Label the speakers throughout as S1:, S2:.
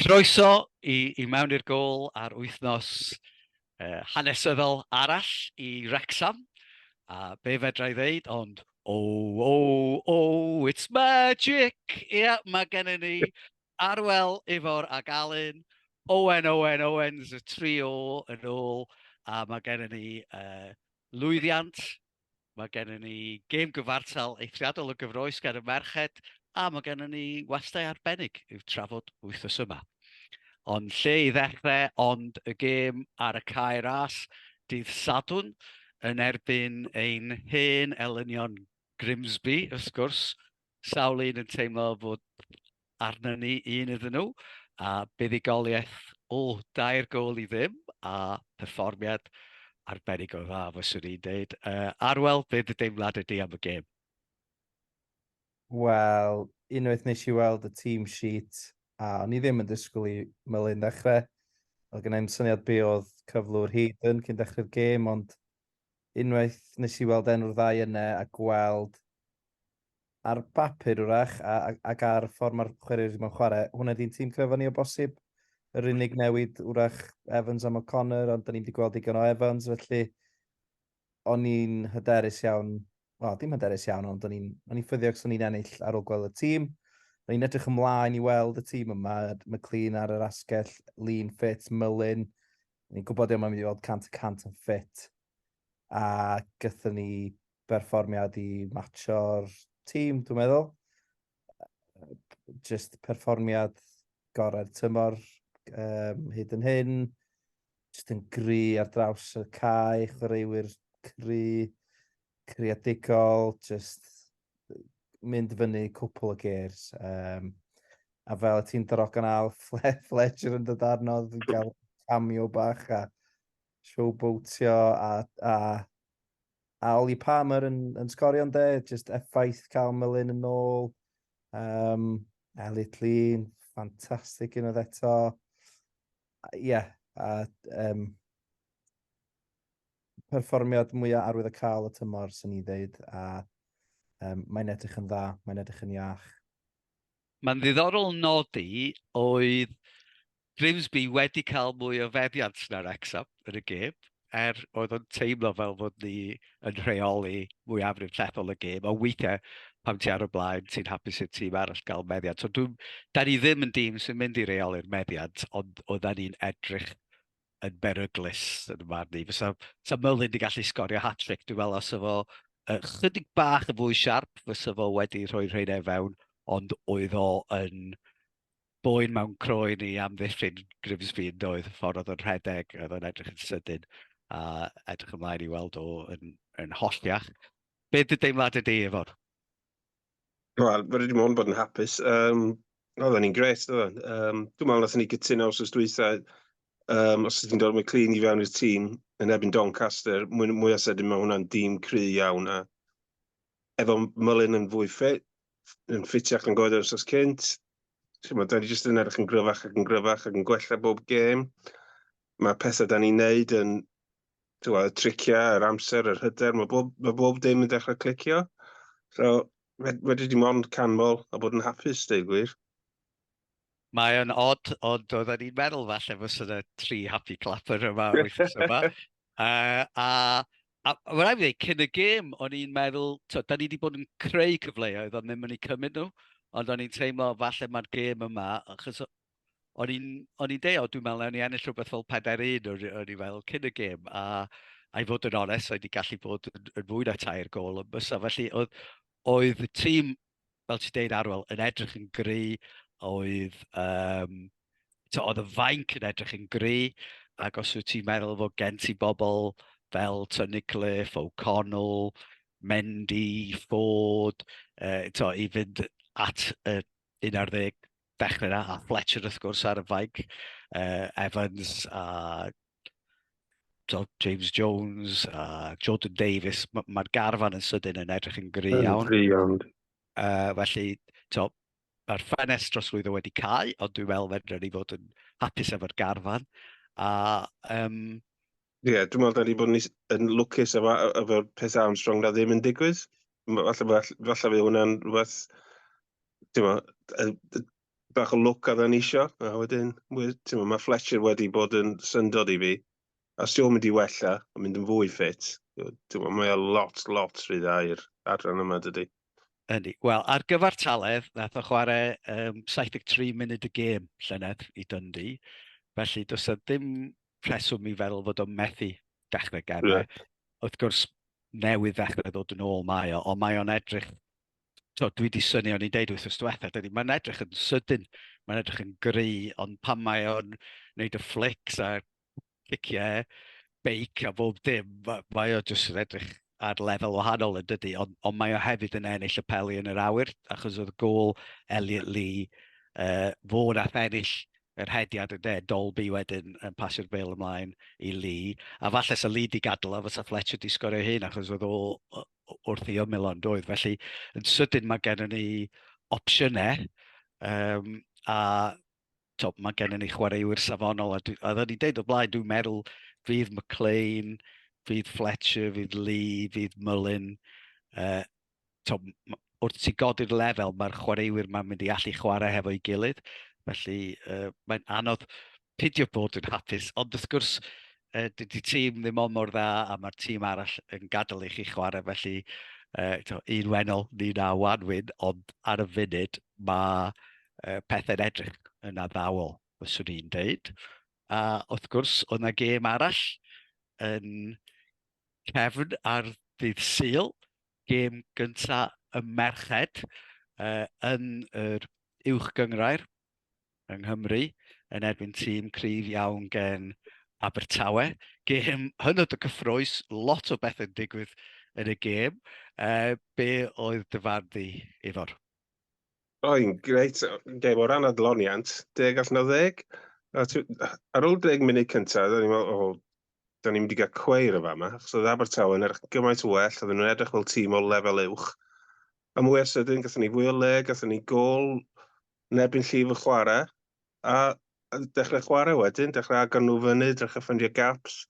S1: Croeso
S2: i mewn i'r gôl ar wythnos uh, hanesyddol arall i Wrexham, a be fedra i ddeud, ond oh, oh, oh, it's magic! Ie, yeah, mae gennym ni Arwel, Ifor ac Alun, Owen, Owen, Owens, y trio yn ôl, a mae gennym ni uh, lwyddiant Mae gennym ni gêm gyfartal eithriadol o gyfroes gan y merched, a mae gennym ni westau arbennig i'w trafod wythnos yma. Ond lle i ddechrau ond y gêm ar y cae ras dydd Sadwn yn erbyn ein hen elynion Grimsby, wrth gwrs. Sawl un yn teimlo bod arnyn ni un iddyn nhw, a buddugoliaeth o dair gol i ddim, a perfformiad arbennig o dda, fyswn i'n dweud. Uh, Arwel, be dy deimlad ydy am y gêm?
S3: Wel, unwaith nes i weld y team sheet, a o'n i ddim yn disgwyl i Melin ddechrau. Oedd gen i'n syniad be oedd cyflwr Hayden cyn dechrau'r gêm, ond unwaith nes i weld enw'r ddau yna a gweld ar bapur wrach a, a, ac ar ffordd mae'r chwaraewyr yma'n chwarae, hwnna di'n tîm cryfa ni o bosib. Yr unig newid wrach Evans am O'Connor, ond da ni wedi gweld digon o Evans, felly o'n i'n hyderus iawn, wel, dim hyderus iawn, ond o'n i'n ffyddio ac o'n i'n ennill ar ôl gweld y tîm. O'n i'n edrych ymlaen i weld y tîm yma, McLean ar yr asgell, Lean Fit, Mullin. O'n i'n gwybod yma'n mynd i weld 100 y 100 yn ffit. A gyda ni berfformiad i matcho'r tîm, dwi'n meddwl. Just perfformiad gorau'r tymor um, hyd yn hyn. Just yn gry ar draws y cae, chwaraewyr cry, creadigol, just mynd fyny cwpl o gers. Um, a fel y ti'n drogan al, Fletcher yn dod arno, yn cael camio bach a showboatio a, a a Oli Palmer yn, yn sgorio ynde, just effaith cael Melin yn ôl. Um, Elliot Lean, ffantastig yn oedd eto. Ie, yeah, a um, perfformiad mwyaf arwydd y cael y tymor, sy'n ni ddeud, a um, mae'n edrych yn dda, mae'n edrych yn iach. Mae'n
S2: ddiddorol nodi oedd Grimsby wedi cael mwy o feddiant na Wrexham yn y gêm, er oedd o'n teimlo fel fod ni yn rheoli mwyafrif llethol y gêm, ond weithiau pam ti ar y blaen, ti'n hapus i'r tîm arall gael meddiant. So, da ni ddim yn dîm sy'n mynd i reoli'r meddiant, ond oedden ni'n edrych yn beryglus yn y marn i. Fysa, fysa Merlin wedi gallu sgorio hat-trick, dwi'n meddwl, os efo uh, chydig bach yn fwy siarp, fysa fo wedi rhoi rhaid e fewn, ond oedd o yn boen mewn croen i amddiffyn Grimsby yn doedd, y ffordd oedd yn rhedeg, oedd o'n edrych yn sydyn, a edrych ymlaen i weld o yn, yn holltiach. Be dy deimlad ydy efo?
S4: Wel, fydde dim ond bod yn hapus. Um, Oedden ni'n gret, oedden. Um, dwi'n meddwl nath ni gytuno os oes dwytha, um, os ydyn dod McLean i fewn i'r tîm, yn ebyn Doncaster, mwy, mwy o sydyn mae hwnna'n dîm cry iawn. A efo Mullin yn fwy ffit, yn ffitiach yn goedd os oes cynt, ti'n da ni jyst yn edrych yn gryfach ac yn gryfach ac yn gwella bob gêm. Mae pethau da ni'n neud yn twa, y triciau, yr amser, yr hyder, mae bob, mae bob dim yn dechrau clicio. So, wedi di mond canmol a bod yn hapus, dweud gwir.
S2: Mae o'n odd, ond oedden ni'n meddwl falle fos yna tri happy clapper yma wythnos yma. uh, a A mae'n rhaid i ddweud, cyn y gêm, o'n i'n meddwl, to, da ni wedi bod yn creu cyfleoedd ond ddim yn ei cymryd nhw, ond o'n i'n teimlo falle mae'r gêm yma, achos o'n i'n, o'n i'n deo, dwi'n meddwl, o'n i ennill rhywbeth fel 4-1 o'n, o'n i fel cyn y gêm, a a i fod yn onest, oedd wedi gallu bod yn, yn fwy na tair gol yn bysa. Felly oedd, oedd y tîm, fel ti'n deud Arwel, yn edrych yn gry, oedd, um, to, oedd y fainc yn edrych yn gry, ac os wyt ti'n meddwl fod gen ti bobl fel to Nicliffe, O'Connell, Mendy, Ford, uh, to, i fynd at uh, 11 Dechrau yna, a Fletcher wrth gwrs ar y faig, uh, Evans a James Jones a Jordan Davies, mae'r ma garfan yn sydyn yn edrych yn
S4: gry
S2: iawn. Gry iawn. Uh, felly, to, mae'r ffenest drosglwyddo wedi cael, ond dwi'n meddwl fedrwn ni fod yn hapus efo'r garfan. A um,
S4: Ie, dwi'n meddwl da ni bod yn is- yn lwcus efo e- efo'r peth Armstrong na ddim yn digwydd. M- Falle falle falle fydd hwnna'n rhywbeth, ti'n gwbod, yy, d- bach o lwc oedden ni isio, a wedyn, we- ti'n gwbod, mae Fletcher wedi bod yn syndod i fi. A os yw'n mynd i wella, a mynd yn fwy ffit, ti'n gwbod, mae o lot, lot rhy dda i'r adran yma dydy. Yndi. Wel,
S2: ar gyfartaledd, nath o chwarae um, 73 munud y gêm llynedd i Dundee. Felly, does o ddim rheswm i feddwl fod o'n methu dechrau gemau. Yeah. Wrth gwrs, newydd ddechrau ddod yn ôl mae o, ond mae o'n edrych... So, dwi wedi syni o'n i'n deud wrth ystwetha, dydy, mae'n edrych yn sydyn, mae'n edrych yn gry, ond pan mae o'n wneud y flics a ciciau, beic a bob dim, mae o jyst yn edrych ar lefel wahanol yn dydy, ond, ond mae o hefyd yn ennill y peli yn yr awyr, achos oedd y gol Elliot Lee, uh, fo na ennill yr hediad yn de, Dolby wedyn yn pasio'r bel ymlaen i Lee, a falle sa Lee di gadw a fysa Fletcher di sgorio hyn, achos oedd o wrth i ymyl ond oedd. Felly, yn sydyn mae gennym ni opsiynau, um, a to, mae gennym ni chwaraewyr safonol, a, dwi, a dda ni'n deud o blaen, dwi'n meddwl fydd McLean, fydd Fletcher, fydd Lee, fydd Mullin, uh, to, wrth ti godi'r lefel, mae'r chwaraewyr mae'n mynd i allu chwarae hefo'i gilydd, felly uh, mae'n anodd pidio bod yn hapus, ond wrth gwrs, uh, dydy tîm ddim ond mor dda a mae'r tîm arall yn gadael i chi chwarae, felly uh, to, un wenol ni na wan wyn, ond ar y funud mae uh, pethau'n edrych yn addawol, fyswn i'n dweud. A wrth gwrs, oedd yna gêm arall yn cefn ar ddydd Sul, gêm gynta y merched uh, yn yr uwch gyngrair yng Nghymru yn erbyn tîm cryf iawn gen Abertawe. Gêm hynod o cyffroes, lot o bethau'n digwydd yn y gêm. Uh, be oedd dy farn di, Ifor? Ro'n
S4: greit, gêm o ran adloniant, deg allan o ddeg. Ar ôl deg munud cyntaf, da ni'n meddwl, o, da ni'n mynd i gael cweir y fama, achos oedd Abertawe yn erch gymaint o well, oedden nhw'n edrych fel tîm o lefel uwch. A mwy o sydyn, gathen ni fwy o le, gathen ni gol, nebyn llif y chwarae, a dechrau chwarae wedyn, dechrau agor nhw fyny, dechrau ffyndio gaps.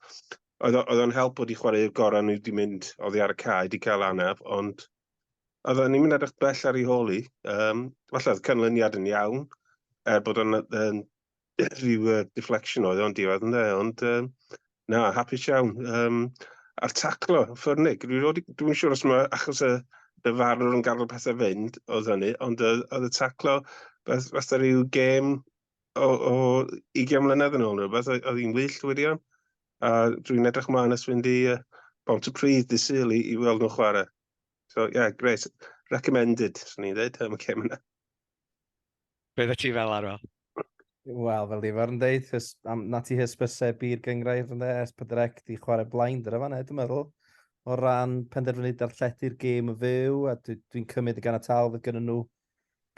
S4: Oedd o'n help bod i chwarae i'r gorau nhw wedi mynd oddi ar y cae, wedi cael anaf, ond Oedden ni'n mynd edrych bell ar ei hôl i. Um, falle oedd canlyniad yn iawn, er bod o'n um, rhyw uh, deflection oedd o'n diwedd ynddo, ond um, na, hapus iawn. Um, a'r taclo, ffyrnig, dwi'n siŵr os mae achos y dyfarwr yn gael y pethau fynd oedd hynny, ond oedd y taclo, fatha rhyw gêm o, o 20 mlynedd yn ôl rhywbeth, oedd hi'n wyllt wirion. A dwi'n edrych mlaen ys fynd i uh, Bont y Pridd dy syl i, i weld nhw chwarae. So, ie, yeah, great. Recommended, swn i'n dweud, am y cem yna.
S2: Be dda ti fel arwel? Wel,
S3: fel di fo'r yn dweud, na ti hysbysebu'r gyngrair yn ers pydrec di chwarae blaen dyna fan dwi'n meddwl o ran penderfynu darlledu'r gêm yn fyw, a dwi'n dwi cymryd y gan y tal fydd gyda nhw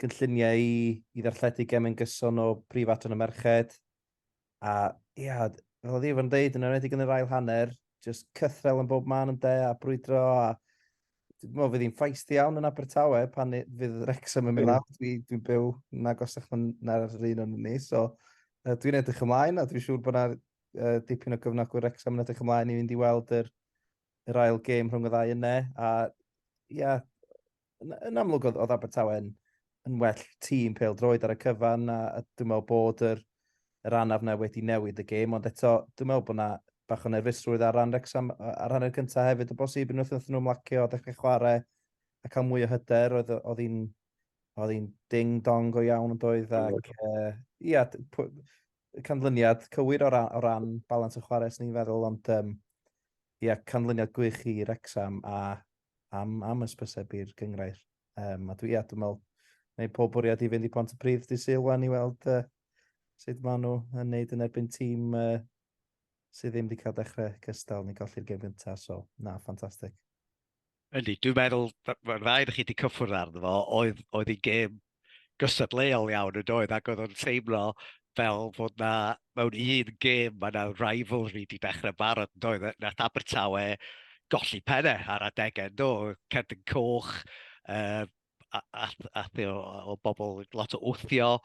S3: gynlluniau i i ddarlledu gemau'n gyson o preifat yn y merched. A ia, fel oedd Ifan yn deud, yn enwedig yn yr ail hanner, jyst cythrel yn bob man ynde, a brwydro, a dwi'n meddwl fydd hi'n feisty iawn yn Abertawe pan ni- fydd Wrexham yn mynd lawr. Dwi, dwi'n byw yn agosach na- na'r yr un o'n ni, so uh, dwi'n edrych ymlaen a dwi'n siŵr bod yna uh, dipyn o gyfnogwyr Wrexham yn edrych ymlaen i fynd i weld yr, yr ail gêm rhwng y ddau yna. A ia, yn, yn amlwg oedd, oedd Abertawe'n yn well tîm pel droed ar y cyfan a, a dwi'n meddwl bod yr, yr anaf na wedi newid y gêm, ond eto dwi'n meddwl bod yna bach o nerfusrwydd ar ran Rexham ar hanner cyntaf hefyd o bosib yn wrth nhw mlacio a dechrau chwarae a cael mwy o hyder oedd oedd hi'n oedd hi'n ding dong go iawn yn doedd ac uh, ia, canlyniad cywir o ran, o ran balans y chwarae sy'n ni'n feddwl ond um, ia, canlyniad gwych i Rexham a am, am ysbysebu'r gyngrair. Um, a dwi, ia, dwi'n meddwl, neu pob bwriad i fynd i Pont y Pryd di syl wan i weld uh, sut maen nhw yn neud yn erbyn tîm uh, sydd ddim wedi cael dechrau cystal ni golli'r gem gyntaf. So, na, ffantastig. Ydy,
S2: dwi'n meddwl, mae'r ddau ydych chi wedi cyffwrdd arno fo, oedd, oedd ei gêm gystadleuol iawn yn doedd ac oedd o'n teimlo fel fod na, mewn un gêm, mae yna rivalry di dechrau barod yn doedd, nath Abertawe golli penne ar adegau yn do, Cerdyn Coch, uh, a, a, a, o, o bobl lot o wthio,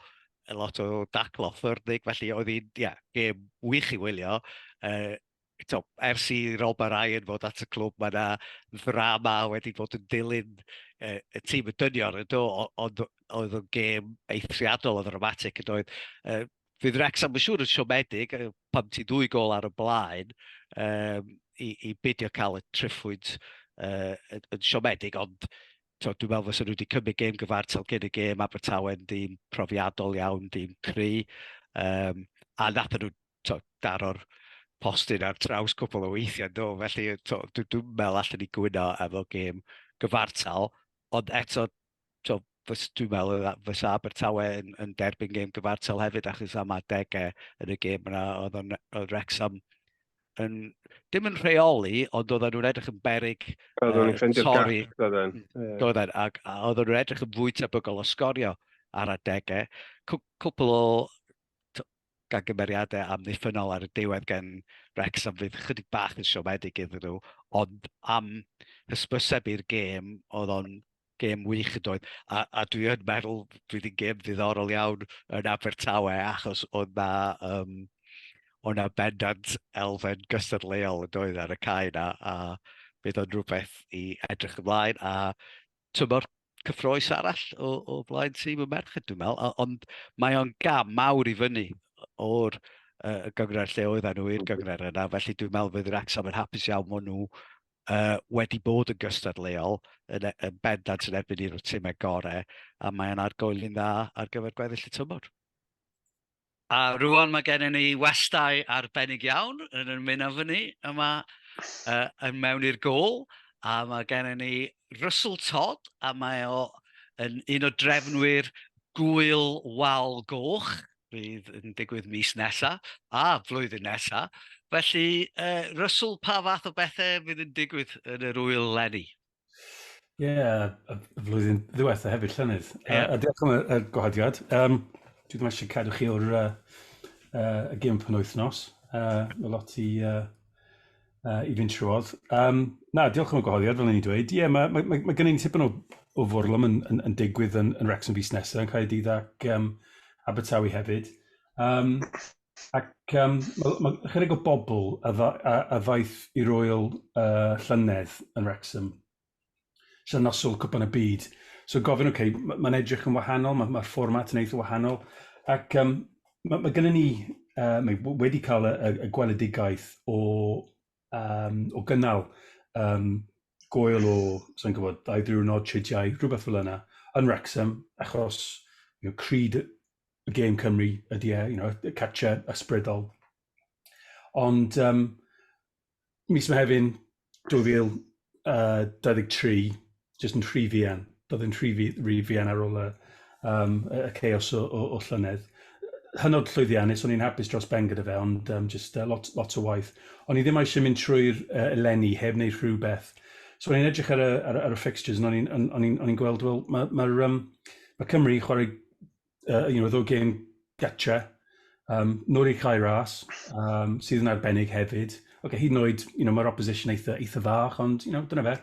S2: lot o daclo ffyrnig, felly oedd hi'n, ie, yeah, gêm wych i wylio, uh, eto, ers i Rob a Ryan fod at y clwb, mae yna ddrama wedi bod yn dilyn e, y tîm y dynion, ydo, ond oedd o'n gêm eithriadol o ddramatig, yn oedd. E, fydd Wrexham yn siŵr yn siomedig, pam ti dwy gol ar y blaen, e, i, i bidio cael y triffwyd e, yn siomedig, ond to, dwi'n meddwl fos nhw wedi cymryd gêm gyfartal gen y gêm Abertawe'n dîm profiadol iawn, dîm cry, um, a nath nhw t'od, daro'r postyn ar draws cwpl o weithiau do, felly t'od dwi dwi'm yn meddwl allen ni gwyno efo gêm gyfartal, ond eto t'od fys- dwi'n meddwl fy- fysa Abertawe yn yn derbyn gêm gyfartal hefyd achos am adegau yn y gêm yna oedd o'n oedd Wrecsam yn dim yn rheoli ond oedden nhw'n edrych yn beryg Oedden nhw'n yy ffeindio'r gap, torri doedden. Ie. doedden ac a oedden nhw'n edrych yn fwy tebygol o sgorio ar adegau. Cw- cwpl o t- gan gymeriadau amddiffynnol ar y diwedd gan Wrexham fydd ychydig bach yn siomedig iddyn nhw, ond am hysbyseb i'r gêm, oedd o'n gêm wych yn doedd, a, a dwi yn meddwl dwi wedi'n gêm ddiddorol iawn yn Abertawe achos oedd na, um, oedd na bendant elfen gystadleuol yn doedd ar y cae na, a bydd o'n rhywbeth i edrych ymlaen, a tymor cyffroes arall o, o flaen tîm y merched, dwi'n meddwl, ond mae o'n gam mawr i fyny o'r uh, gyngred lle oedd nhw i'r gyngred yna, felly dwi'n meddwl fydd Wrexham yn hapus iawn maen nhw uh, wedi bod yn gystadleuol yn, e, yn bendant yn erbyn i'r tîmau gorau, a mae'n argoeli'n dda ar gyfer gweddill y tymor. A rŵan mae gennym ni westai arbennig iawn yn ymuno efo ni yma uh, yn mewn i'r gol. A mae gennym ni Russell Todd, a mae o yn un o drefnwyr gwyl wal goch, fydd yn digwydd mis nesa, a flwyddyn nesa. Felly, uh, Russell, pa fath o bethau fydd yn digwydd yn yr wyl lenni? Ie,
S5: y flwyddyn ddiwetha hefyd, llynedd. Ie. A, a diolch am y, y gwahoddiad. Um, dwi ddim eisiau cadw chi o'r uh, uh, y gym pan wythnos. Uh, mae lot i, uh, uh, i fynd trwodd. Um, na, diolch am y gwahoddiad, fel ni'n dweud. Ie, yeah, mae, mae, mae, mae gen i'n tipyn o, o fwrlwm yn, yn, yn digwydd yn, yn Rex yn fus nesaf, yn cael ei dydd ac um, Abertawe hefyd. Um, Ac yym ma' ma' chydig o bobl a dda- a a ddaeth i'r ŵyl yy llynedd yn Wrecsam, so noson Cwpan y Byd, so gofyn ok ma' ma'n edrych yn wahanol ma' ma'r fformat yn eitha wahanol ac yym ma' ma' gynnon ni yy mae w- wedi ca'l y y y gweledigaeth o um, o gynnal um, goel o, sa'n gwybod, dau ddiwrnod, tridiau, rhywbeth fel yna, yn Wrexham, achos you know, cryd y gêm Cymru ydy e, you know, y catcher ysbrydol. Ond um, mis Mehefin 2000, yy 23 jyst yn rhy fuan. Do'dd e'n rhy fu- rhy fuan ar ôl y yym y y chaos o o o llynedd. Yy hynod llwyddiannus, o'n i'n hapus dros ben gyda fe ond yym jyst yy lot lot o waith. O'n i ddim eisiau mynd trwy'r yy eleni heb wneud rhywbeth. So o'n i'n edrych ar y ar y ar y fixtures and o'n i'n o'n o'n i'n o'n i'n gweld wel ma' ma'r yym ma' Cymru chwarae uh, you know, ddo gêm gatcha, um, Nori Cai Ras, um, sydd yn arbennig hefyd. Okay, hyd yn oed, you know, mae'r opposition eitha, eitha fach, ond, you know, dyna fe.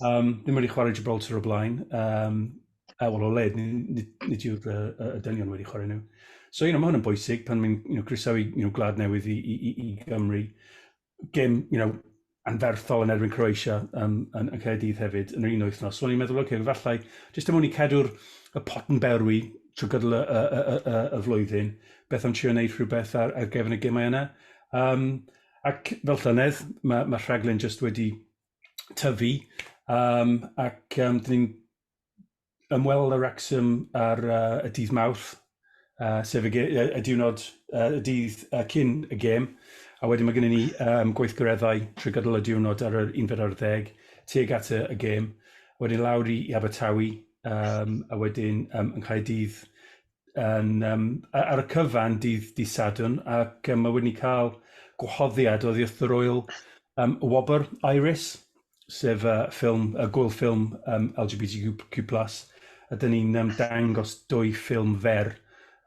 S5: Um, ddim wedi chwarae Gibraltar o blaen. Um, a wel, o led, nid yw'r uh, uh, dynion wedi chwarae nhw. So, you know, mae hwn yn bwysig pan mae'n you know, croesawu you know, gwlad newydd i, i, i, i Gymru. gêm, you know, anferthol yn erbyn Croatia um, yn, yn Caerdydd hefyd yn yr un wythnos. So o'n i'n meddwl, oce, okay, falle, jyst am wni cadw'r y pot yn berwi trwy gydol y, y, y, y, y flwyddyn, beth am trio wneud rhywbeth ar, ar gefn y gemau yna. Um, ac fel llynedd, mae, mae rhaglen jyst wedi tyfu, um, ac um, dyn ni'n ymweld â Wrexham ar uh, y dydd Mawrth, uh, sef y, y, y diwrnod, uh, y dydd uh, cyn y gêm, a wedyn mae gennym ni um, gweithgareddau trwy gydol y diwrnod ar yr unfed ar ddeg, tuag at y, y gêm, wedyn lawr i, i Abertawe, um, a wedyn um, yng Nghaerdydd yn um, ar y cyfan dydd di Sadwn ac um, mae wedi cael gwahoddiad oddi wrth yr oel um, Wobr Iris, sef uh, ffilm, uh, gwyl ffilm um, LGBTQ+, a dyn ni'n um, dangos dwy ffilm fer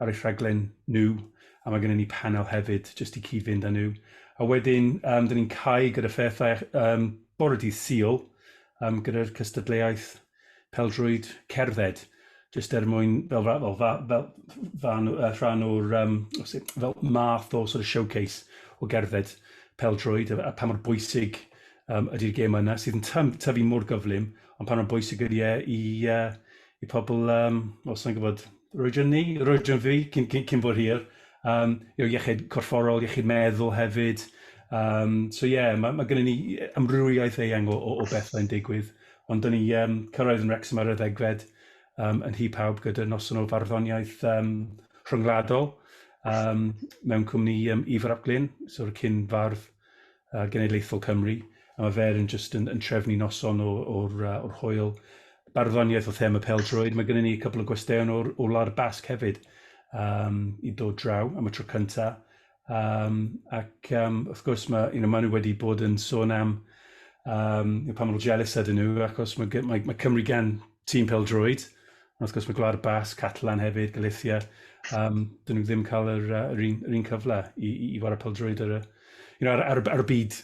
S5: ar ei rhaglen nhw, a mae gennym ni panel hefyd, jyst i cyd-fynd â nhw. A wedyn, um, dyn ni'n cael gyda phethau um, bore dydd Sul, um, gyda'r cystadleuaeth pêl-droed cerdded, jyst er mwyn fel ra- fel fa- fel fan o- yy rhan o'r yym o sut fel math o sort of showcase o gerdded pêl-droed a a pa mor bwysig yym ydi'r gêm yna sydd yn tymp- tyfu mor gyflym, ond pa mor bwysig ydi e i yy i pobl yym wel sai'n gwbod yr oedran ni, yr oedran fi cyn cyn cyn bod hir yym you know iechyd corfforol, iechyd meddwl hefyd yym so ie ma' ma' gynnon ni yy amrywiaeth eang o o o bethe yn digwydd. Ond dan ni um, cyrraedd yn Wrexham ar y ddegfed um, yn hi pawb gyda noson o farddoniaeth um, rhyngwladol um, mewn cwmni um, Ifr ap Glyn, so'r cyn fardd uh, genedlaethol Cymru. A mae fer yn just yn, yn trefnu noson o'r, or, uh, or hwyl barddoniaeth o thema peldroed. Mae gennym ni a cwpl o gwesteion o'r, o Wlad Basg hefyd um, i dod draw am y tro cyntaf. Um, ac um, wrth gwrs, mae, you know, maen nhw wedi bod yn sôn am um, pa maen nhw jealous ydyn nhw, achos mae, mae, mae Cymru gan tîm pel droed, ond wrth gwrs mae Gwlad Bas, Catalan hefyd, Galicia, um, dyn nhw ddim cael yr, uh, yr, un, yr un cyfle i, i, i wario pel droed ar, you know, ar, ar, ar y byd,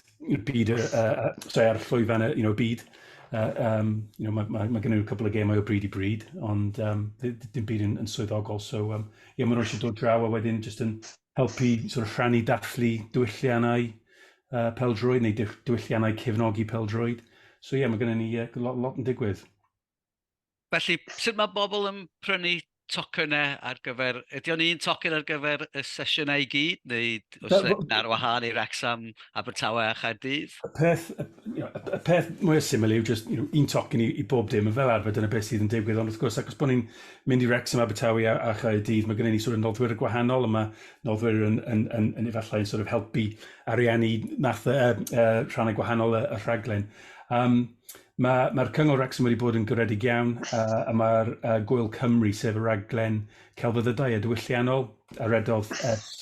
S5: byd uh, uh, sorry, ar llwyfan y you know, byd. Uh, um, you know, mae, mae, mae gen nhw cwbl o gemau o bryd i bryd, ond um, dim byd yn, yn swyddogol, so um, ie ma' n'w eisiau dod draw a wedyn jyst yn helpu sort of rhannu dathlu diwylliannau yy pêl-droed neu diff- diwylliannau cefnogi pêl-droed so ie ma' gynnon ni yy lo- lot yn digwydd.
S2: Felly sut ma' bobl yn prynu tocynnau ar gyfer... ydy o'n un tocyn ar gyfer y sesiynau i gyd neu oes e un ar wahân i Wrecsam, Abertawe a Chaerdydd? Y peth y you know
S5: y peth mwya syml yw jyst you know un tocyn i i bob dim a fel arfer dyna beth sydd yn digwydd ond wrth gwrs achos bo' ni'n mynd i Wrecsam, Abertawe a, a Chaerdydd, mae gennym ni sort of noddwyr y gwahanol, a mae noddwyr yn, yn, yn, yn efallai yn sort of helpu ariannu math uh, uh, rhannau gwahanol y, y rhaglen. Um, Mae'r ma Cyngor Wrexham wedi bod yn gyredig iawn a, a mae'r uh, Gwyl Cymru, sef y raglen celfyddydau a diwylliannol a redodd ers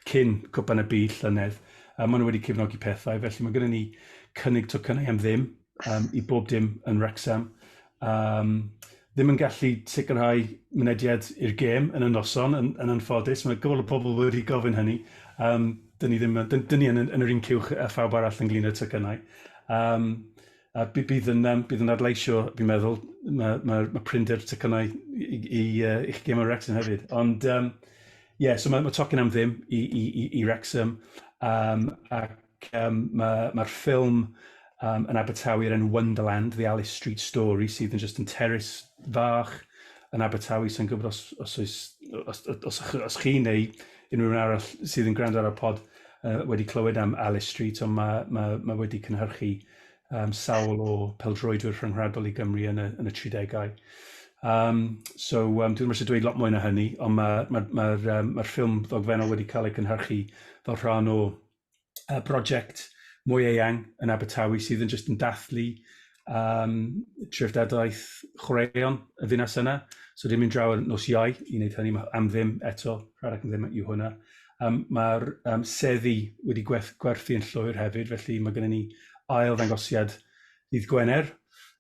S5: cyn Cwpan y Byd llynedd, a maen nhw wedi cefnogi pethau, felly mae gennym ni cynnig tocynnau am ddim. um, i bob dim yn Wrexham. Um, ddim yn gallu sicrhau mynediad i'r gêm yn y noson, yn, yn anffodus. Mae gofal o pobl wedi gofyn hynny. Um, dyn ni ddim dyn, dyn ni yn, yn yr un cywch a phawb arall yn glin y tycynnau. Um, a bydd yn, um, bydd yn adleisio, fi'n meddwl, mae, ma, ma prinder tycynnau i, i, i, uh, i'ch gêm yn Wrexham hefyd. Ond, um, yeah, so mae, ma tocyn am ddim i, i, i, i Wrexham. Um, ac Ac yym ma' ma'r ffilm yym yn Abertawe o'r enw Wonderland, The Alice Street Story sydd yn jyst yn terrace fach yn Abertawe, sai'n gwybod os os oes o- os o- os ych- os chi neu unrhyw un arall sydd yn gwrando ar y pod yy wedi clywed am Alice Street ond ma' ma' ma' wedi cynhyrchu yym sawl o peldroedwyr rhyngwladol i Gymru yn y yn y tri degau. Yym so yym dwi ddim isie dweud lot mwy na hynny ond ma' ma'r ma'r yym ma'r ffilm ddogfennol wedi cael ei cynhyrchu fel rhan o y brosiect mwy eang yn Abertawe sydd yn jyst yn dathlu um, trefdadaeth chwaraeon y ddinas yna. So dim yn draw ar nos iau i wneud hynny, mae am ddim eto, rhaid ac am ddim yw hwnna. Um, Mae'r um, seddi wedi gwerth, gwerthu yn llwyr hefyd, felly mae gennym ni ail ddangosiad ddydd Gwener,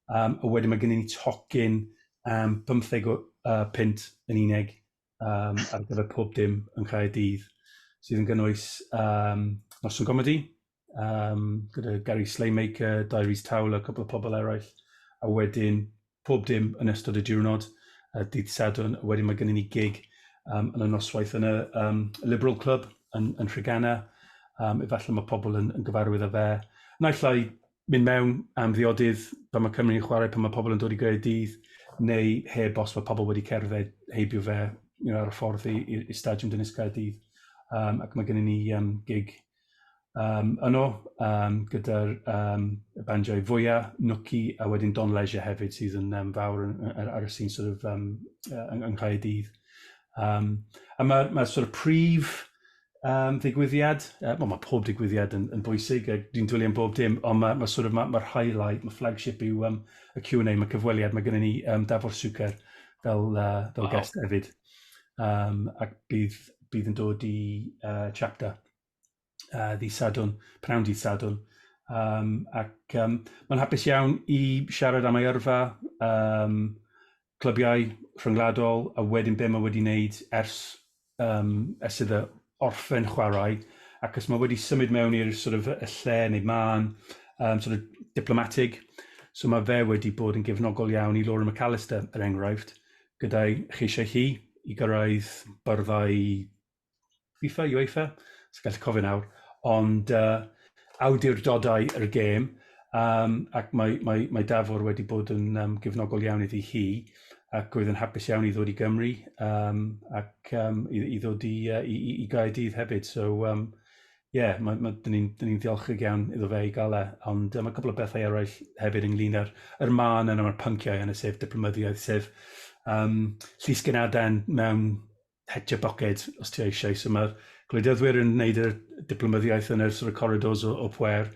S5: um, a wedyn mae gennym ni tocyn um, 55 uh, yn unig um, ar gyfer pob dim yn Caerdydd, sydd yn gynnwys um, Noson Comedi, um, gyda Gary Slaymaker, Diaries Tawl a cwbl o pobl eraill, a wedyn pob dim yn ystod y diwrnod, uh, dydd Sadwn, a wedyn mae gennym ni gig um, yn y noswaith yn y um, Liberal Club yn, yn Rhygana, um, efallai mae pobl yn, yn gyfarwydd â fe. Naill ai mynd mewn am ddiodydd pan mae Cymru'n chwarae, pan mae pobl yn dod i greu dydd, neu heb os mae pobl wedi cerdded heibio fe you know, ar y ffordd i, i, i Stadiwm Dynes Caerdydd. Um, ac mae gennym ni um, gig um, yno um, gyda'r um, bandiau fwyaf, Nwci, a wedyn Don Leisure hefyd sydd yn um, fawr yn, ar, ar y sy'n sort of, um, yng, yng Nghaerdydd. Um, a mae'r mae sort of prif um, ddigwyddiad. Uh, well, mae pob digwyddiad yn, yn bwysig, a dwi'n dwylio am bob dim, ond mae, ma sort of, ma, ma highlight, mae flagship yw um, y Q&A, mae cyfweliad, mae gennym ni um, Dafwr Suker fel, uh, fel wow. guest hefyd. Um, ac bydd, bydd yn dod i uh, chapter uh, ddi Sadwn, pnawn dydd Sadwn. Um, ac um, mae'n hapus iawn i siarad am ei yrfa, um, clybiau rhyngwladol a wedyn be mae wedi wneud ers yym ers iddo orffen chwarae ac os mae wedi symud mewn i'r sort of y lle neu mân yym sort of diplomatig so mae fe wedi bod yn gefnogol iawn i Laura McAllister er enghraifft gyda'i cheisiau hi i gyrraedd byrddau FIFA, UEFA, sy'n gallu cofio nawr, ond uh, awdurdodau yr gêm, um, ac mae, mae, mae Dafwr wedi bod yn um, gefnogol iawn iddi hi, ac oedd yn hapus iawn i ddod i Gymru um, ac um, i, i ddod i, uh, i, i, i Gaerdydd hefyd. So, um, yeah, mae, mae, dyn ni'n ni, ddiolchig iawn iddo fe i gael e, ond um, mae cwbl o bethau eraill hefyd ynglyn â'r er man yna mae'r pynciau yna, sef diplomyddiaeth, sef um, llysgenadau mewn het your pocket os ti eisiau. So mae'r gwleidyddwyr yn wneud y diplomyddiaeth yn yr sort of corridors o, o pwer,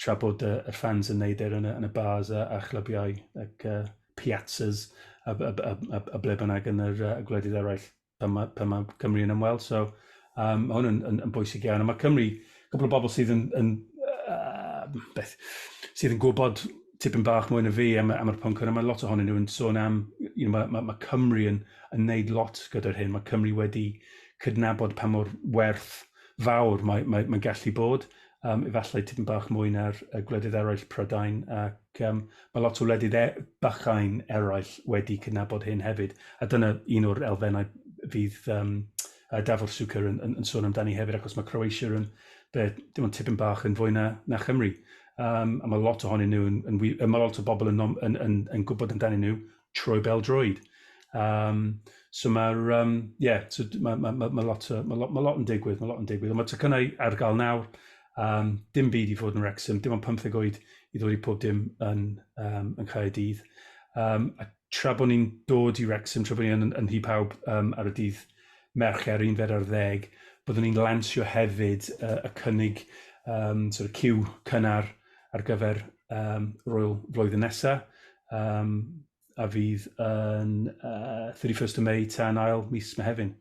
S5: tra bod y, y fans yn wneud e yn y, yn y bars a, a chlybiau ac uh, piazzas a, a, a, a, a ble bynnag yn yr uh, gwledydd eraill pan mae, pan mae Cymru yn ymweld. So um, mae hwn yn, yn, yn bwysig iawn. A mae Cymru cwpl o bobl sydd yn yn yy beth sydd yn gwybod tipyn bach mwy na fi am am yr pwnc hwn a ma' lot ohonyn nhw yn sôn am you know ma' ma' ma' Cymru yn yn neud lot gyda'r hyn ma' Cymru wedi cydnabod pa mor werth fawr mae mae mae'n gallu bod yym efallai tipyn bach mwy na'r yy gwledydd eraill Prydain ac yym ma' lot o wledydd e- bychain eraill wedi cydnabod hyn hefyd a dyna un o'r elfennau fydd yym a Davor Suker yn, yn, yn sôn amdani hefyd, achos mae Croatia yn, be, dim ond tipyn bach yn fwy na, na Chymru. Um, a mae lot ohonyn nhw, yn, yn, yn, mae lot o bobl yn, yn, yn, yn, yn gwybod amdani nhw trwy bel droed. Um, so mae'r, um, yeah, so mae ma, ma, ma lot, ma lot, ma lot yn digwydd, mae lot yn digwydd. Ond mae tycynnau ar gael nawr, um, dim byd i fod yn Wrexham, dim ond 15 oed i ddod i pob dim yn, um, yn Caerdydd. Um, ac tra bod ni'n dod i Wrecsam, tra bod ni yn yn Nhŷ Pawb yym ar y dydd Mercher, yr unfed ar ddeg, byddwn ni'n lansio hefyd yy y cynnig yym sort of cyw cynnar ar gyfer yym yr ŵyl flwyddyn nesa, yym a fydd yn yy thirty first o Mei tan ail mis Mehefin.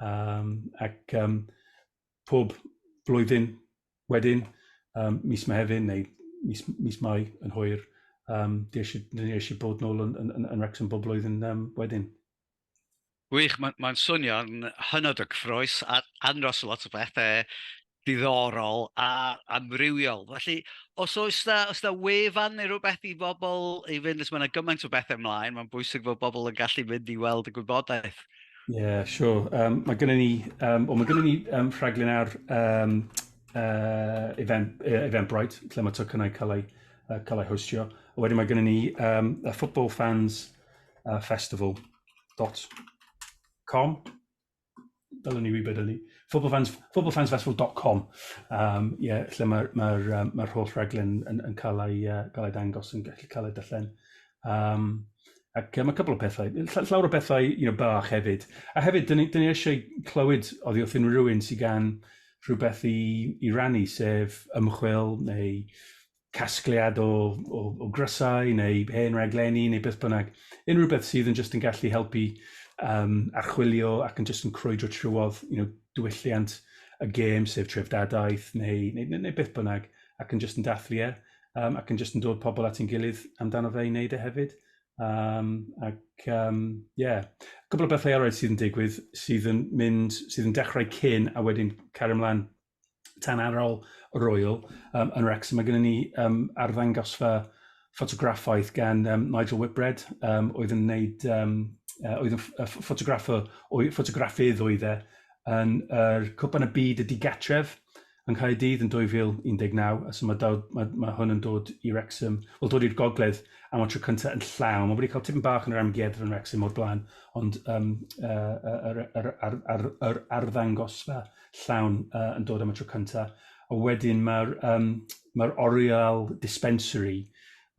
S5: Yym ac yym pob blwyddyn wedyn, um, mis Mehefin neu mis, mis Mai yn hwyr, um, dwi eisiau bod nôl yn, yn, yn, yn Wrexham bob blwyddyn um, wedyn.
S2: Gwych, mae'n ma swnio'n hynod o gyffroes a anros lot o bethau diddorol a amrywiol. Felly, os oes da, os da wefan neu rhywbeth i bobl i fynd, os mae yna gymaint o bethau ymlaen, mae'n bwysig fod bobl yn gallu mynd i weld y gwybodaeth. Ie, siwr.
S5: Um, mae gennym ni, um, o, mae gennym ni um, rhaglen ar um, uh, event, uh, Eventbrite, lle mae tocynnau cael ei, uh, cael ei hostio. A wedyn mae gennym ni um, a Football Fans uh, Festival.com. Dylwn ni wybod hynny. Footballfans, footballfansfestival.com. Um, yeah, lle mae'r ma, ma, um, ma holl rhaglen yn, yn cael, ei, uh, cael ei dangos, yn gallu cael ei dyllen. Um, ac um, mae cwbl o pethau, llawer o pethau you know, bach hefyd. A hefyd, dyn ni, dyn ni eisiau clywed oddi wrth unrhyw rhywun sy'n gan rhywbeth i, i rannu, sef ymchwil neu casgliad o, o, o grysau neu hen raglenni neu beth bynnag. Unrhyw beth sydd yn just yn gallu helpu um, archwilio ac yn just yn crwydro trwodd you know, diwylliant y gêm, sef trefdadaeth neu, neu, neu, neu beth bynnag, ac yn just yn dathlu e. um, ac yn jyst yn dod pobl at ein gilydd amdano fe i wneud e hefyd. Um, ac, um, yeah. Cwbl o bethau eraill sydd yn digwydd, sydd yn mynd, sydd yn dechrau cyn a wedyn cario ymlaen tan ar ôl y Royal um, yn Rex. Mae gennym ni um, arddangosfa ffotograffaeth gan um, Nigel Whitbread, um, oedd yn wneud, um, uh, oedd yn ffotograffo, ffotograffydd oedd e, yn yr er Cwpan y Byd y Digatref, yng Nghaerdydd yn 2019 a so ma' daw- ma' ma' hwn yn dod i Wrecsam, wel dod i'r gogledd am y tro cynta yn llawn. Ma' wedi cael tipyn bach yn yr amgueddfa yn Wrecsam o'r blaen ond yym yy yy yr yr ar- ar- yr arddangosfa llawn yy yn dod am y tro cynta. A wedyn ma'r yym ma'r oriel dispensary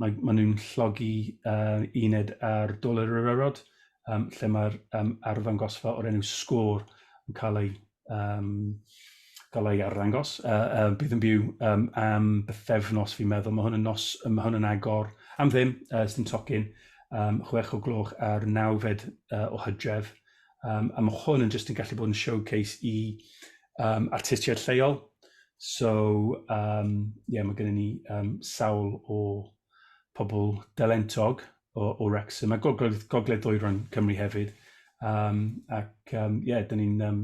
S5: mae ma' nw'n llogi yy uned ar Dol yr Urarod yym lle ma'r yym arddangosfa o'r enw Sgôr yn ca'l ei yym galla i arddangos yy yy bydd yn byw yym am bythefnos fi'n meddwl ma' hwn yn nos yy ma' hwn yn agor am ddim yy sdim tocyn yym chwech o gloch ar nawfed yy o Hydref yym a ma' hwn yn jyst yn gallu bod yn showcase i yym artistiaid lleol so yym ie ma' gynnon ni yym sawl o pobol dalentog o, o Wrexham, a gogledd, gogledd dwyron Cymru hefyd. Um, ac um, yeah, dyn ni'n um,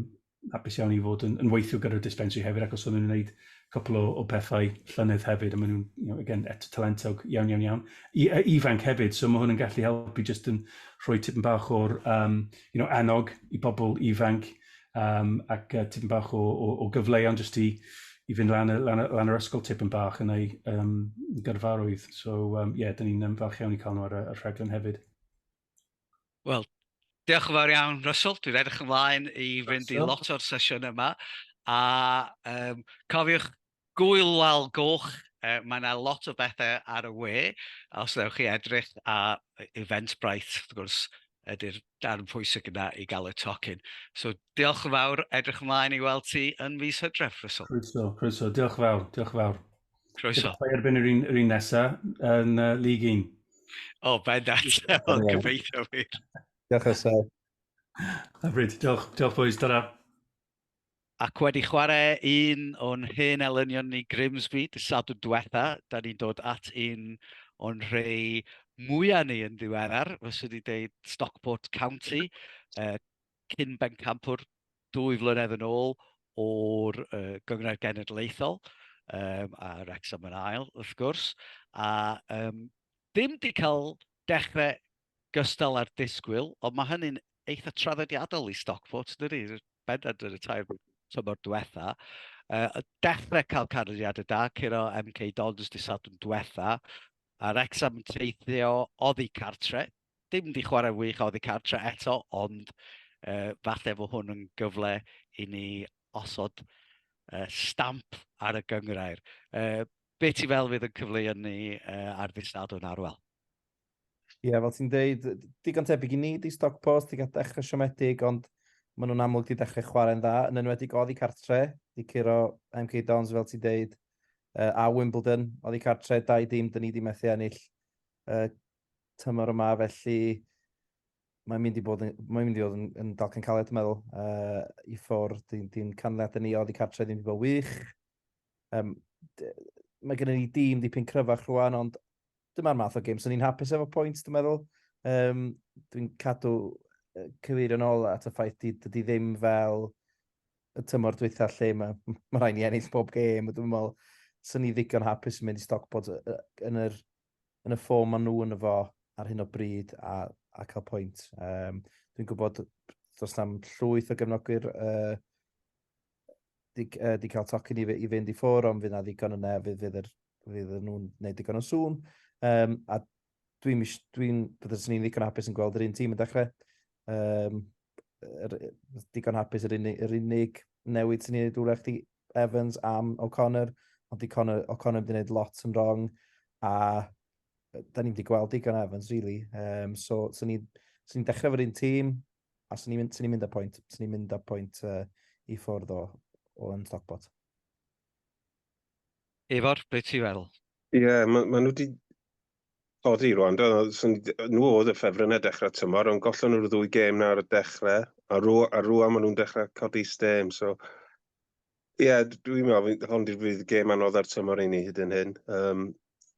S5: apus iawn i fod yn, yn weithio gyda'r dispensary hefyd, ac os o'n nhw'n gwneud cwpl o, o pethau llynedd hefyd, a maen nhw'n, you know, again, eto talentog iawn, iawn, iawn. I, a ifanc hefyd, so mae hwn yn gallu helpu jyst yn rhoi tipyn bach o'r um, you know, annog i bobl ifanc, um, ac uh, tipyn bach o, o, o gyfleuon jyst i, i fynd lan, lan, lan yr ysgol tipyn bach yn ei um, gyrfarwydd. So, ie, um, yeah, dyn ni'n um, falch iawn i cael nhw ar y, y rhaglen hefyd.
S2: Wel, diolch yn fawr iawn, Russell. Dwi'n edrych ymlaen i fynd i lot o'r sesiwn yma. A um, cofiwch, Gŵyl Wal Goch, mae 'na lot o bethe ar y we, os wnewch chi edrych, a Eventbrite wrth gwrs ydy'r darn pwysig yna i gael y tocyn. So, diolch yn fawr, edrych ymlaen i weld ti yn mis Hydref, Russell. Croeso, croeso, diolch yn
S5: fawr, diolch yn fawr. Croeso. Gobeithio
S2: erbyn yr un, yr
S5: un nesa yn uh, League 1. O,
S2: bendant, ond gobeithio wir. Diolch Russell.
S5: Hyfryd, diolch, diolch boys, ta-ra.
S2: Ac wedi chwarae un o'n hen elynion ni Grimsby dy Sadwrn diwetha, da ni'n dod at un o'n rhei mwya ni yn ddiweddar, fyswn i'n deud Stockport County, uh, cyn bencampwr dwy flynedd yn ôl o'r uh, Gyngor Genedlaethol, um, a Wrexham yn ail, wrth gwrs, a um, dim di cael dechrau gystal â'r disgwyl, ond mae hynny'n eitha traddodiadol i Stockport, dydy, bendant yn y tair tymor diwetha. Uh, dechrau cael canlyniadau da, curo MK Dons di Sadwrn diwetha, a Rexham yn teithio oddi cartre. Dim di chwarae wych oddi cartre eto, ond uh, falle fo hwn yn gyfle i ni osod uh, stamp ar y gyngrair. Uh, be ti fel fydd yn cyfleu ni uh, ar ddisadwn arwel?
S3: Ie, yeah, fel ti'n dweud, digon tebyg i ni, di stoc post, di gael dechrau siomedig, ond maen nhw'n amlwg di dechrau chwarae'n dda, yn enwedig oddi cartre, di curo MK Dons fel ti'n dweud, uh, a Wimbledon, oddi cartre, dau dim, dyn ni di methu ennill uh, tymor yma, felly mae'n mynd i bod yn, mae'n mynd i fod yn, yn dalcan caled, dwi'n meddwl, uh, i ffwrdd, dyn, dyn canlyniadau ni oedd i cartre ddim wedi bod wych. Um, mae gennym ni dîm dipyn cryfach rwan, ond dyma'r math o gym. So ni'n hapus efo pwynt, dwi'n meddwl. Um, dwi'n cadw cyfeir yn ôl at y ffaith di, dydy ddim fel y tymor dwytha lle mae, mae rhaid i ennill bob gêm. Dwi'n meddwl, sy'n ni ddigon hapus yn mynd i Stockport yn, yr, yn y ffom maen nhw yn y fo ar hyn o bryd a, a cael pwynt. Um, dwi'n gwybod dros am llwyth o gefnogwyr uh, di, uh, di cael tocyn i, i fynd i ffwr, ond fydd na ddigon yna, fydd, fydd, yr, fydd nhw'n gwneud digon o sŵn. Um, a dwi'n, dwi byddai'n ni'n ddigon hapus yn gweld yr un tîm yn dechrau. Um, er, digon hapus yr unig, yr unig newid sy'n ei wneud wrach di Evans am O'Connor, ond di Connor, O'Connor wedi gwneud lot yn wrong, a da ni'n wedi gweld digon Evans, really. Um, so, sy'n ni'n ni dechrau fo'r un tîm, A swn i'n mynd, swn i'n mynd â pwynt, swn i'n mynd â pwynt uh, i ffwrdd o, o'n stockbot.
S2: Efor, beth ti'n feddwl? Ie, yeah, maen ma nhw
S4: wedi oddi rwan, do, nhw oedd y ffefryn y dechrau tymor, ond gollon nhw'r ddwy gêm nawr y dechrau, a rwan, a rwan maen nhw'n dechrau codi stêm, so Ie, yeah, dwi'n meddwl, hon di'r fydd gêm anodd ar tymor i ni hyd yn hyn. Um,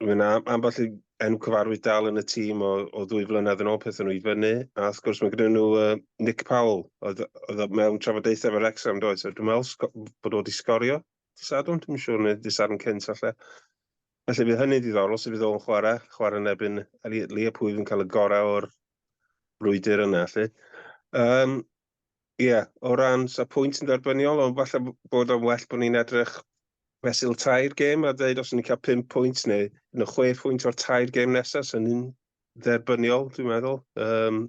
S4: Mae'n ambell i enw cyfarwydd dal yn y tîm o, o ddwy flynedd yn ôl peth nhw i fyny. A wrth gwrs mae gyda nhw uh, Nick Powell, oedd, oedd mewn trafodaethau efo'r Rexham, doedd. So, dwi'n meddwl bod o wedi sgorio. Disadwn, dwi'n siŵr, neu disadwn cynt allan. Felly bydd hynny ddiddorol, sef fydd o'n chwarae, chwarae yn ebyn Elliot Lee, pwy fi'n cael y gorau o'r brwydr yna, felly. Um, Ie, yeah, o ran sa pwynt yn dderbyniol, ond falle bod o'n well bod ni'n edrych fesul tair gêm a dweud os ni'n cael 5 pwynt neu yn y 6 pwynt o'r tair gêm nesaf, sy'n ni'n dderbyniol, dwi'n meddwl. Um,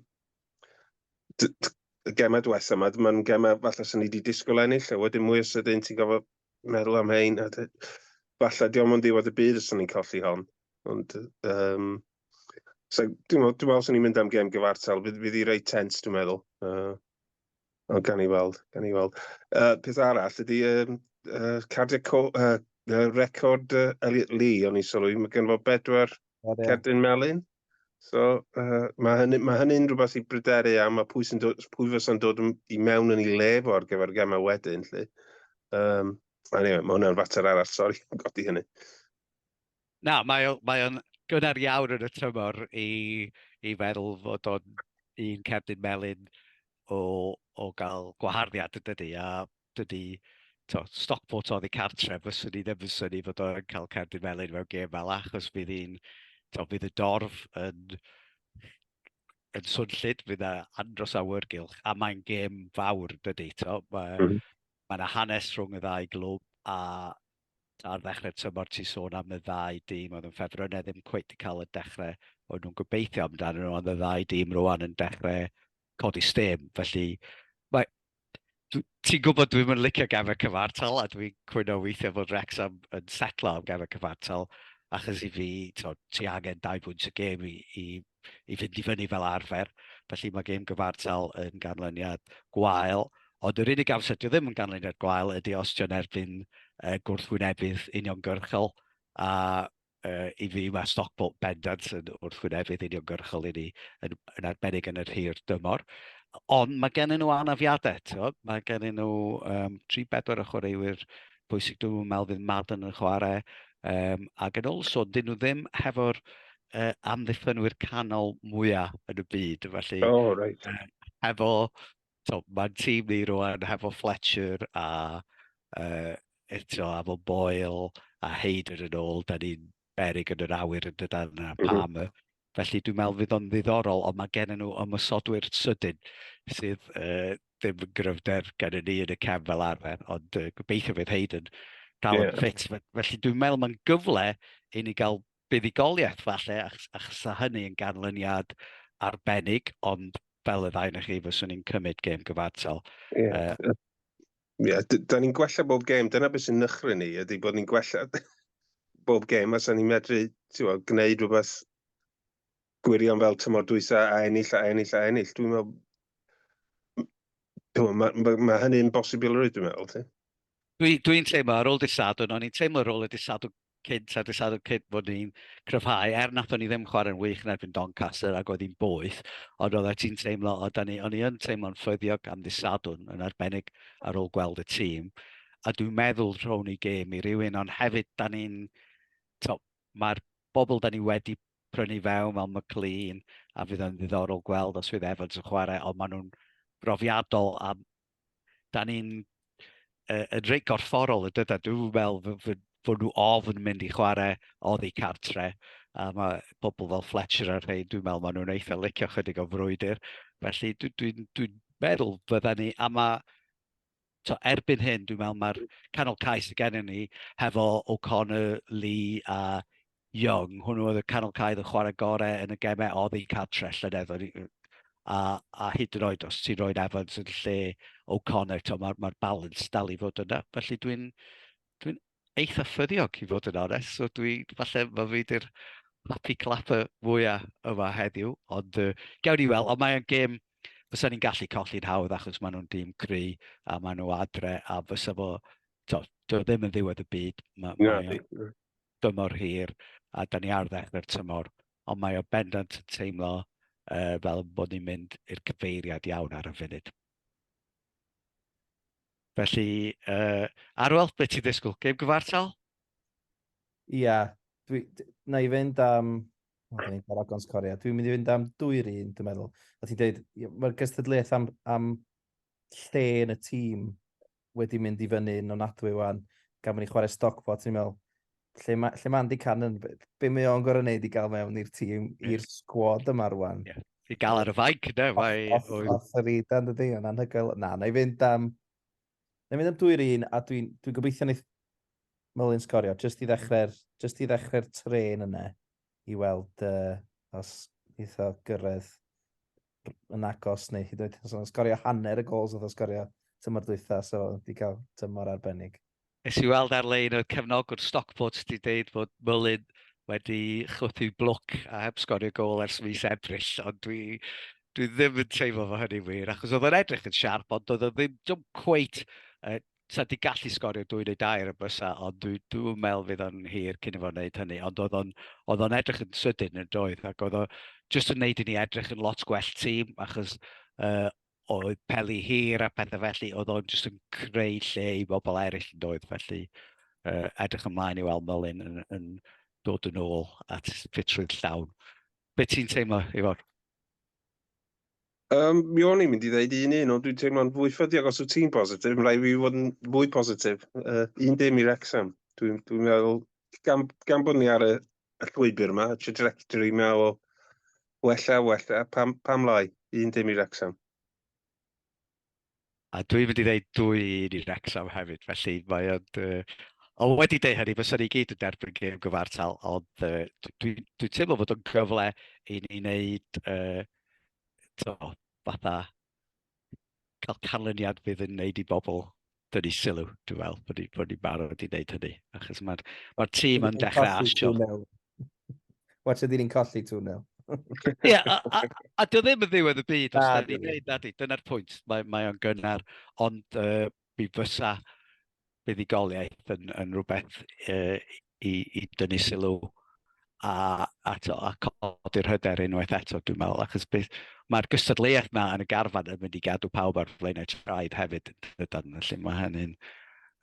S4: y gemau diwethaf yma, mae'n gemau falle sy'n ni wedi disgwyl ennill, a wedyn mwy o sydyn ti'n gofio meddwl am hein, a falle diolch yn ddiwedd y byd os ni'n colli hon. Ond, um, So, dwi'n meddwl, dwi'n meddwl swn i'n mynd am gem gyfartal. Fydd, fydd i reit tens, dwi'n meddwl. Uh, ond gan i weld, gan i weld. Uh, peth arall ydy um, uh, cardiau co, uh, uh, record uh, Elliot Lee, o'n i sylwi. Mae gen fo bedwar cerdyn melin. So, uh, mae hynny'n ma hynny rhywbeth i bryderu am, a pwy, dod, pwy fysa'n dod i mewn yn ei lef o'r gyfer gemau wedyn, lle. Um, anyway, mae hwnna'n fater arall, sori, godi hynny.
S2: Na, mae o, mae o'n gynnar iawn yn y tymor i, i feddwl fod o'n un cerdyn melyn o, o gael gwaharddiad yn dydy, a dydy to, Stockport oddi cartre, fyswn i ddim yn syni fod o'n cael cerdyn melyn mewn gêm fel achos bydd hi'n, to, bydd y dorf yn, yn swnllid, bydd yna andros awyrgylch, a mae'n gêm fawr dydy, to, mae, mm. mae yna hanes rhwng y ddau glwb, a ar ddechrau'r tymor ti sôn am y ddau dîm oedd yn ffefrynnau ddim cweit i cael y dechrau oedd nhw'n gobeithio amdano nhw, ond y ddau dîm rwan yn dechrau codi stêm. Felly, mae, ti'n gwybod dwi'n mynd licio gefau cyfartal a dwi'n cwyno weithiau bod Rexham yn setlo am gefau cyfartal achos i fi, to, ti angen dau bwynt y gêm i, i i fynd i fyny fel arfer, felly mae gêm gyfartal yn ganlyniad gwael, ond yr unig amser dio ddim yn ganlyniad gwael ydy os dio'n erbyn uh, gwrthwynefydd uniongyrchol, a uh, i fi mae Stockport bendant yn wrthwynefydd uniongyrchol i ni, yn, yn arbennig yn yr hir dymor. Ond mae gen nhw anafiadau, tio? mae gen nhw um, 3-4 o chwaraewyr pwysig dwi'n meddwl fydd Madden yn chwarae, um, ac yn ôl so, dyn nhw ddim hefo'r uh, amddiffynwyr canol mwyaf yn y byd. Felly, oh, right. uh, efo, so, mae'n tîm ni rwan, hefo Fletcher a, uh, eto, a fo Boyle a Heider yn ôl, da ni'n berig yn yr awyr yn dydan a mhm. pam. Mm -hmm. Felly dwi'n meddwl fydd o'n ddiddorol, ond mae gen nhw ymwysodwyr sydyn sydd uh, ddim yn gryfder gen ni yn y cefn fel arfer, ond uh, gobeithio fydd Hayden dal yn yeah. ffit. Felly dwi'n meddwl mae'n gyfle i ni gael buddugoliaeth falle, achos a hynny yn ganlyniad arbennig, ond fel y ddau na chi, fyswn i'n cymryd gêm gyfartal. Ie, yeah. uh, yeah,
S4: da ni'n gwella bob gêm, dyna beth sy'n nychry ni, ydy bod ni'n gwella bob gêm, a sa'n ni'n medru tiwa, gwneud rhywbeth gwirion fel tymor dwysa a ennill a ennill a ennill. Dwi'n meddwl, mae ma, ma hynny'n bosibilrwydd, dwi'n meddwl, ti? Dwi'n dwi
S2: teimlo, ar ôl disadwn, o'n i'n teimlo ar ôl y disadwn cynt a disadwn cynt fod ni'n cryfhau, er nath o'n i ddim chwarae'n wych yn erbyn Doncaster ac oedd hi'n boeth, ond oedd ti'n teimlo, oedd ni, o'n i yn teimlo'n ffyddiog am ddisadwn yn arbennig ar ôl gweld y tîm, a dwi'n meddwl rhown i gêm i rywun, ond hefyd da ni'n, mae'r bobl da ni wedi prynu fewn fel McLean, a fydd yn ddiddorol gweld os fydd Evans yn chwarae, ond maen nhw'n brofiadol a da ni'n uh, yn reit gorfforol y dyda. Dwi'n fel fod nhw ofn mynd i chwarae oddi cartre. A mae pobl fel Fletcher ar hyn, dwi'n meddwl maen nhw'n eitha licio chydig o frwydr. Felly dwi'n dwi, dwi, dwi meddwl fydda ni, a mae to erbyn hyn, dwi'n meddwl mae'r canol cais y gennym ni hefo O'Connor, Lee a Young, hwnnw oedd y canol caedd yn chwarae gorau yn y gemau oddi cartre llynedd, a, a hyd yn oed os ti'n rhoi'n Evans yn lle O'Connor, mae'r ma, ma balans dal i fod yna. Felly dwi'n dwi eitha ffyddiog i fod yn onest, so dwi, falle mae fi di'r happy clapper fwyaf yma heddiw, ond uh, gawn ni weld, ond mae'n gêm fysa ni'n gallu colli'n hawdd achos maen nhw'n dîm cry a maen nhw adre a fysa fo, to, dwi ddim yn ddiwedd y byd, mae, yeah, dymor hir a da ni ar ddechrau'r tymor, ond mae o bendant yn teimlo uh, fel bod ni'n mynd i'r cyfeiriad iawn ar y funud. Felly, uh, Arwel, beth ti'n ddisgwyl? Gêm gyfartal?
S3: Ia, yeah, dwi, na i fynd am Ond ni'n cael agons Corea. Dwi'n mynd i fynd am dwy'r un, dwi'n meddwl. A ti'n dweud, mae'r gystadleuaeth am, am lle yn y tîm wedi mynd i fyny'n onadwy wan gan bo' ni'n chware Stockport o'n i'n me'wl lle ma' lle ma' Andy Cannon be' be' mae o'n gor'o' neud i ga'l mewn i'r tîm i'r Yes. sgwad yma rŵan? Ie. I ga'l ar y fainc
S2: ynde mae Off oes. off yr
S3: udan dydi? Ma'n anhygoel. Na, nâi fynd am nâi mynd am dwy yr un a dwi'n dwi'n gobeithio neith Mullin sgorio jyst i ddechre'r jyst i ddechre'r trên yna i weld yy os neith o gyrredd yn agos neu hyd oed yn sgorio hanner y gols oedd o sgorio tymor dwytha, so wedi cael tymor arbennig. Nes i weld
S2: ar-lein oedd cefnogwr Stockport wedi dweud bod Mullin wedi chwythu blwc a heb sgorio gol ers mis Ebrill, ond dwi, dwi ddim yn teimlo fo hynny'n wir, achos oedd o'n edrych yn siarp, ond doedd o ddim, ddim cweit uh, sa di gallu sgorio dwy neu dair y bysa, ond dwi, dwi'n meddwl fydd o'n hir cyn i fo wneud hynny, ond oedd o'n, oedd o'n edrych yn sydyn yn doedd, ac oedd o jyst yn wneud i ni edrych yn lot gwell tîm, achos uh, oedd peli hir a pethau felly, oedd o'n jyst yn creu lle i bobl eraill yn doedd, felly uh, edrych ymlaen i weld Mylun yn, yn dod yn ôl at ffitrwydd llawn. Be ti'n teimlo, Ifor? Um,
S4: mi o'n i'n mynd i ddeud un un, ond dwi'n teimlo'n fwy ffydiog os wyt ti'n positif. Mae'n rhaid fi fod yn fwy positif. Uh, un dim i Rexham. Dwi'n dwi meddwl, gan, gan bod ni ar y, y llwybr yma, y trajectory yma o wella, wella, pam, pam lai, un dim i Rexham.
S2: A dwi'n mynd i ddeud dwy un i Wrexham hefyd, felly mae o'n... Uh, o wedi deud hynny, fysa ni gyd yn derbyn gêm gyfartal, ond uh, dwi'n dwi, dwi teimlo bod o'n gyfle i ni wneud uh, to, fatha cael canlyniad fydd yn wneud i bobl dynnu sylw, dwi'n fel, bod ni'n bod ni barod i wneud hynny. Achos mae'r ma tîm yn dechrau asio.
S3: Watch ydy ni'n colli tu nel. Ie, a,
S2: a, a dwi ddim yn ddiwedd y byd os da ni'n neud nadi, dyna'r pwynt. Mae, mae o'n gynnar, ond uh, mi fysa buddigoliaeth yn, yn rhywbeth uh, i, i dynnu sylw a, a, to, a codi'r hyder unwaith eto, dwi'n meddwl, achos beth, mae'r gystadleuaeth na yn y garfan yn mynd i gadw pawb ar flaenau traed hefyd, dydan, felly mae hynny'n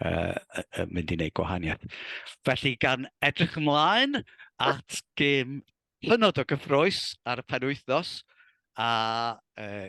S2: uh, mynd i wneud gwahaniaeth. Felly, gan edrych ymlaen at gym hynod o gyffroes ar y penwythnos, a uh,